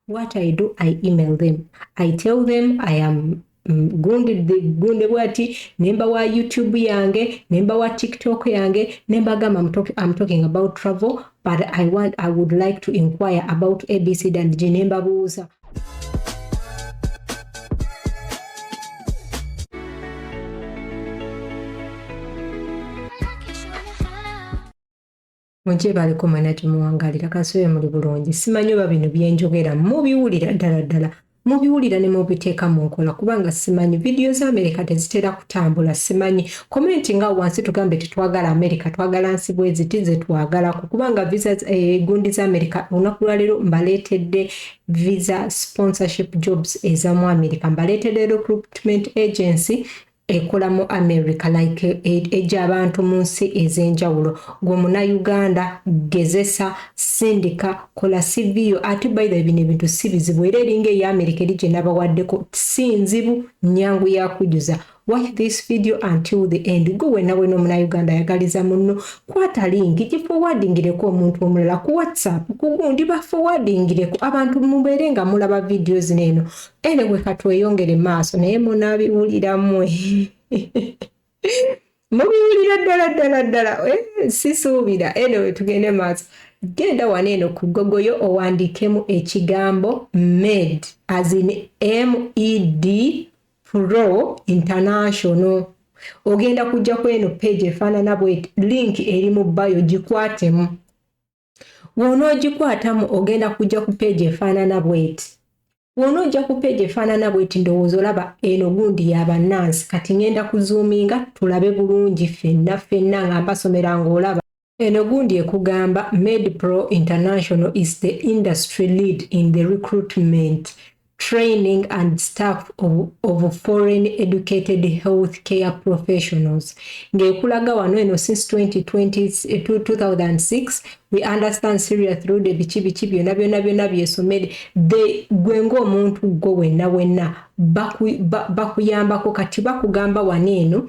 what i do i email them i tell them i am mm, gunde bwati nemba wa youtube yange nemba wa tiktok yange nemba gamba am talking about travel but i want i would like to inquire about abc dand g nemba buuza mugyebaleko mwena gyemuwangalira kansobe muli bulungi simanyi oba bino byenjogera mubiwulira ddala ddala mubiwulira ne mubiteeka mu nkola kubanga simanyi vidiyo za amerika tezitera kutambula simanyi komenti nga wansi tugambe tetwagala amerika twagala nsi bweziti zetwagalako kubanga visa eh, gundi za amerika olunaku lwaleero mbaleetedde visa sponsorship jobs ezamu amerika mbaleetedde recruitment agency ekola mu America like ejja abantu mu nsi ez'enjawulo gwe munayuganda gezesa sindika kola CV yo ate by the bino ebintu si bizibu era eringa eya America eri gye nabawaddeko si nzibu nyangu ya kujuza watch this video until the end gwe wena wena omunayuganda ayagaliza munno kwata linki gifowadingireko omuntu omulala ku whatsapp kugundi bafowadingireko abantu mubeere nga mulaba vidiyo zino eno Anyway, katweyongere maaso naye munabiwulira mwe mubiwulira ddala ddala ddala eh, sisuubira anyway tugende maaso genda wano eno ku gogoyo owandiikemu ekigambo med as in med pro international ogenda kujja kweno page efaanana bwet link eri mu bayo gikwatemu wonoogikwatamu ogenda kujja ku peegi efaanana bweti wona ojja ku peegi efaanana bweti ndowooza olaba eno gundi yabannansi kati ngenda kuzuuminga tulabe bulungi fenna fenna nga mbasomera ng'olaba eno gundi ekugamba medpro international is the industry lead in the recruitment training and staff of, of foreign educated health care professionals ng'ekulaga wano eno since 2020, 2006 we understand syria through the biki biki byona byona byona byesomere gwe ng'omuntu gwe wenna wenna bakuyambako kati bakugamba wano eno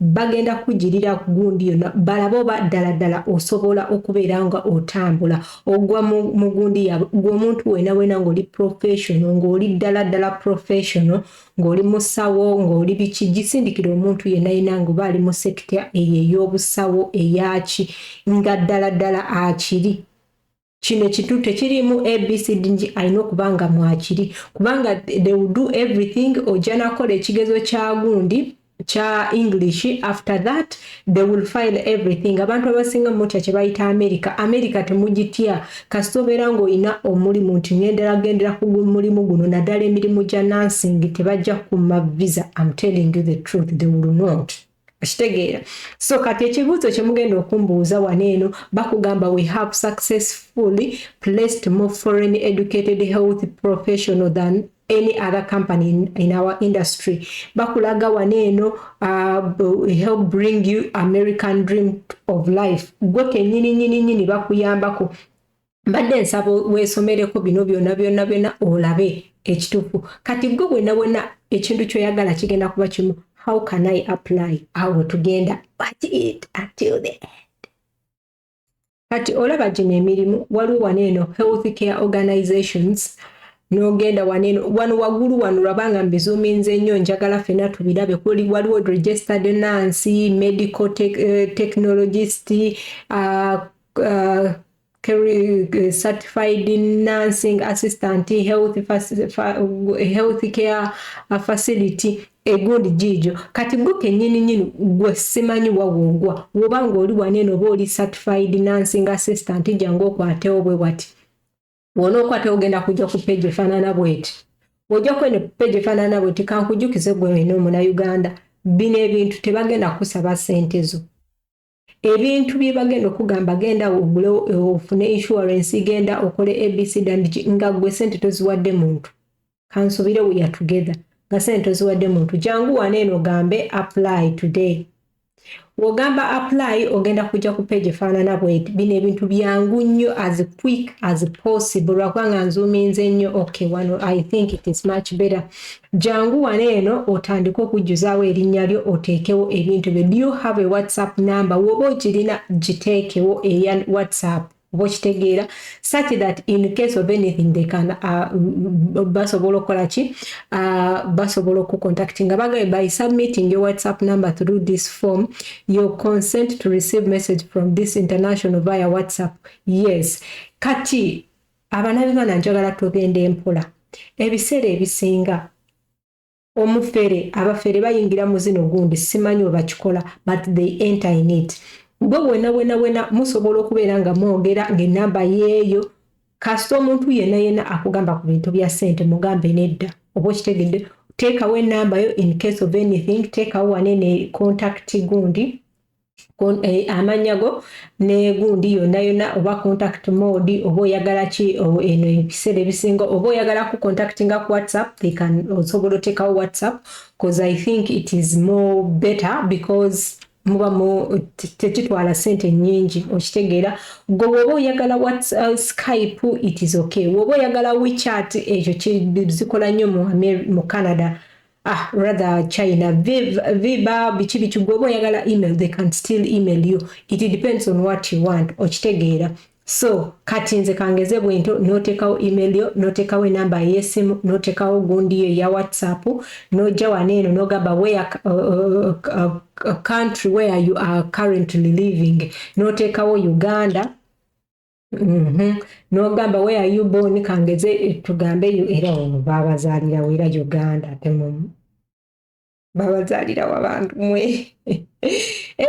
bagenda kukugirira ku gundi yonna balabe oba ddala ddala osobola okubeera nga otambula ogwa mu gundi yaabwe gwe omuntu wena wena ng'oli professional ng'oli ddala ddala professional ng'oli musawo ng'oli biki gisindikira omuntu yenna yenna ng'oba ali mu sekita eyo ey'obusawo eyaki nga ddala ddala akiri kino ekintu tekiriimu abcd nti alina okuba nga mwakiri kubanga they will do everything ojja nakola ekigezo kya gundi kya english after that they will file everything abantu abasinga mutya kyebayita america america temugitya kasita obeera ngaolina omulimu nti ngendera gendera ku mulimu guno naddala emirimu gya nansing tebajja kuma visa am telling you the truth they will not kitegeera so kati ekibuuzo kyemugenda okumbuuza wano eno bakugamba we have successfully placed more foreign educated health professional than any other company in, in our industry bakulaga wano eno uh, help bring you american dream of life gwe kenyini nyini nyini bakuyambako mbadde nsaba weesomereko bino byonna byonna byonna olabe ekituufu kati gwe bwena bwena ekintu kyoyagala kigenda kuba kimu how can i apply awo tugenda kati olaba gino emirimu waliwo wano eno health care organizations nogenda wano eno wano waggulu wano lwabanga mbizuminze ennyo njagala fena tubirabe kuli waliwo registered nancy medical eh, technologist uh, uh, certified nursing assistant health, health care facility egundi jiijo kati gwe kenyini nyini gwe simanyi wawogwa woba ng'oli waneno oba oli certified nursing assistant jangu okwatewo bwe wati wona okwata ogenda kujja ku peji efanana bweti ojja kwene peji efanana bweti kankujukize gwe wena omuna uganda bino ebintu tebagenda kusaba sente zo ebintu byebagenda okugamba genda ogule ofune insurance genda okole abc dandiki nga gwe sente toziwadde muntu kansubire we are together nga sente toziwadde muntu jangu wana eno gambe apply today wogamba apply ogenda kujja ku page efaanana bweti bino ebintu byangu nnyo as quick as possible lwakubanga nzuuminze nnyo okay wano i think it is much better Jangu wano eno otandike okujjuzaawo erinnya lyo oteekewo ebintu byo. Do you have a WhatsApp number? Woba ogirina giteekewo eya WhatsApp oba okitegeera such that in case of anything they can uh, basobola okukola ki uh, basobola okucontacti nga bagaye by submitting your whatsapp number through this form your consent to receive message from this international via whatsapp yes kati abanabibana njagala tugenda empola ebiseera ebisinga omufere abafere bayingira mu zino gundi simanyi webakikola but they enter in it gwe wena wena wena musobola okubeera nga mwogera ngaenamba yeeyo kasita omuntu yena yena akugamba ku bintu bya sente mugambe nedda oba okitegedde teekawo enamba yo in case of anything teekawo wane ne contact gundi Eh, amanya go ne gundi yonna yonna oba contact mode oba oyagala ki oh, eno ebiseera ebisinga oba oyagala ku contact nga ku whatsapp they can osobola otekawo whatsapp because i think it is more better because muba mu tekitwala sente nyingi okitegeera gwe woba oyagala whatsapp uh, skype it is okay woba oyagala wechat ekyo kizikola nnyo mu canada ah rather china viba biki biki gwe oba oyagala email they can still email you it depends on what you want okitegeera so kati nze kangeze bwento notekawo email yo notekawo enamba yesimu notekawo gundi yo ya whatsapp noja waneeno nogamba where uh, uh, uh, uh, country where you are currently living notekawo uganda Mhm. nogamba where are you born kangeze tugambe yo era ono babazalirawo era uganda temumu babazalirawo abantu mwe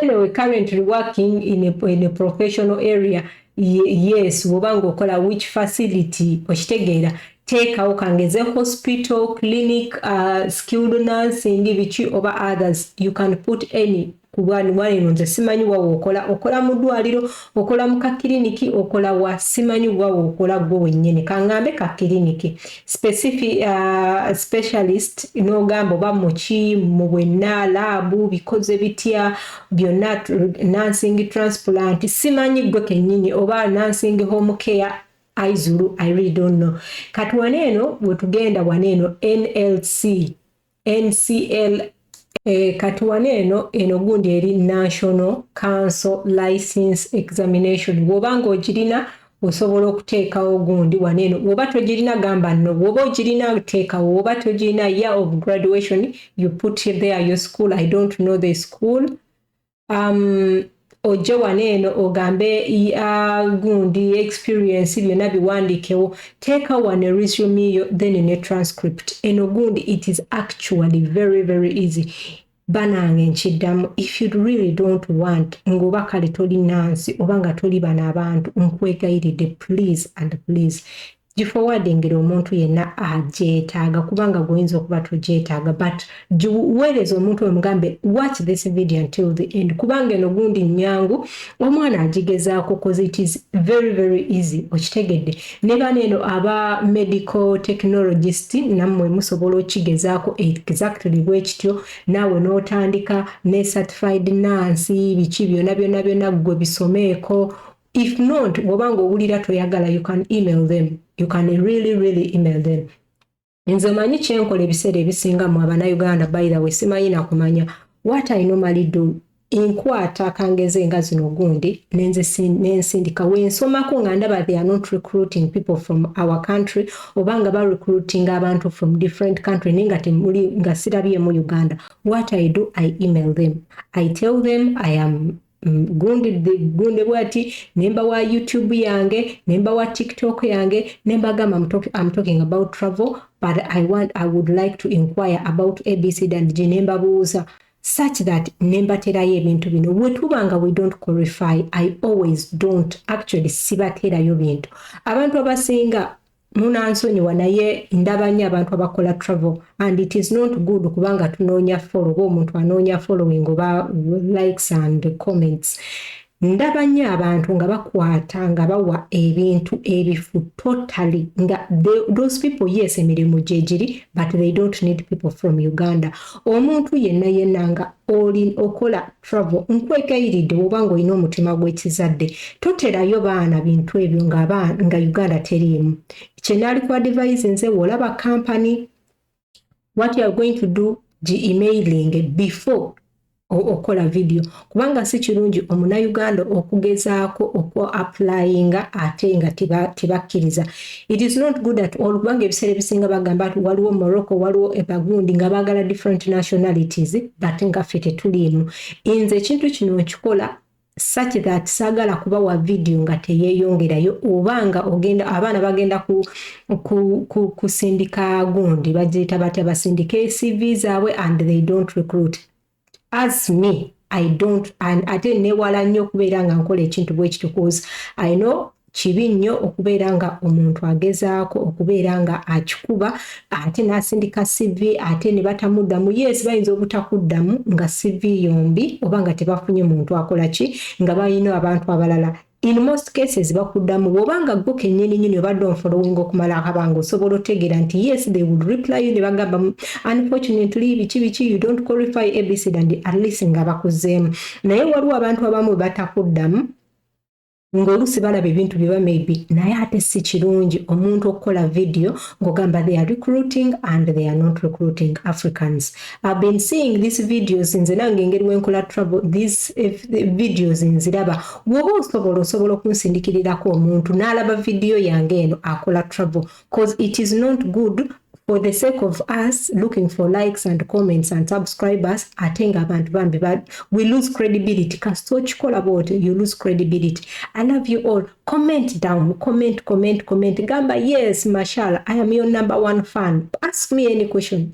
anyway currently working in a, in a professional area yes woba ngaokola which facility okitegeera teekawo kangeze hospital clinic uh, skilled nursing biki oba others you can put any Ku bwanubwana eno nze simanyi wawe okola okola mu ddwaliro okola mu kakiriniki okola wa simanyi wawe okola gwe wennyini kangambe kakiriniki specific uh, specialist n'ogamba oba muki mu bwenna laabu bikoze bitya byonna nursing transplant simanyi gwe kennyini oba nursing home care aizulu i really don't know kati wano eno wetugenda wano eno nlc NCL eh, katuwane eno eno gundi eri National Council License Examination woba nga ogirina osobola okuteekawo gundi wano eno woba togirina gamba no woba ogirina teekawo woba togirina year of graduation you put there your school I don't know the school um, ojje wano eno ogambe ya gundi experience byonna biwandikewo teeka wano resume yo then ne transcript eno gundi it is actually very very easy banange nkiddamu if you really don't want ngaoba kale toli nansi oba nga toli bano abantu nkwegayiridde please and please gifowadingire omuntu yenna agyetaaga kubanga gwoyinza okuba togyetaaga but giweereza omuntu omugambe watch this video until the end kubanga eno gundi nyangu omwana agigezaako cause it is very very easy okitegedde ne bana eno aba medical technologist nammwe musobola okigezaako exactly bwe kityo naawe n'otandika ne certified nansi biki byona byona byona ggwe bisomeeko if not bwoba nga owulira toyagala you can email them you can really really email them nze omanyi kyenkola ebiseera ebisinga mu abanauganda by the way simanyi nakumanya what i normally do enkwata akangeze nga zino gundi nensindika wensomako nga ndaba they are not recruiting people from our country oba nga ba recruiting abantu from different country naye nga temuli nga sirabyemu uganda what i do i email them i tell them i am Mm, gunde bwati nemba wa youtube yange nemba wa tiktok yange nemba gamba I'm talking about travel but I want I would like to inquire about abc and g nemba buuza such that nemba terayo ebintu bino wetubanga we don't qualify I always don't actually sibaterayo bintu abantu abasinga munansonyiwa naye ndaba nnyo abantu abakola travel and it is not good kubanga tunoonya follow oba omuntu anoonya following oba likes and comments ndaba nnyo abantu nga bakwata nga bawa ebintu ebifu totally nga those people yes emirimu gyegiri but they don't need people from uganda omuntu yenna yenna nga oli okola travel nkwegayiridde woba nga olina omutima gwekizadde toterayo baana bintu ebyo nga uganda teriimu kyenaali ku advise nze wolaba company what youare going to do gi emailing before okola vidiyo kubanga si kirungi omunauganda okugezaako okuapulayinga ate nga tebakkiriza It is not good at all kubanga ebiseera ebisinga bagamba nti waliwo Morocco waliwo ebagundi nga baagala different nationalities but nga ffe tetuliimu nze ekintu kino nkikola such that saagala kubawa vidiyo nga teyeeyongerayo oba nga ogenda abaana bagenda kusindika gundi bagiyita batya basindika cv zaabwe and they don't recruit as me i don't and ate newala nnyo okubeera nga nkola ekintu bwekityo cause i know kibi nnyo okubeera nga omuntu agezaako okubeera nga akikuba ate n'asindika CV ate ne batamuddamu yes bayinza obutakuddamu nga CV yombi oba nga tebafunye muntu akola ki nga balina abantu abalala In most cases bakudamu bwoba nga gwo kenyini nyini obadde onfollowing okumala akabanga osobola otegera nti yes they will reply you nebagamba unfortunately biki biki you don't qualify abc and at least nga bakuzeemu naye waliwo abantu abamu batakudamu ng'oluusi balaba ebintu byeba maybe naye ate si kirungi omuntu okukola vidiyo ng'ogamba they are recruiting and they are not recruiting africans I've been seeing these videos nze nange engeri wenkola trouble these eh, videos nziraba bwoba osobola osobola okunsindikirirako omuntu n'alaba vidiyo yange eno akola trouble cause it is not good for the sake of us looking for likes and comments and subscribers ate nga abantu bambi we lose credibility kasita okikola bwoti you lose credibility i love you all comment down comment comment comment gamba yes mashala i am your number one fan ask me any question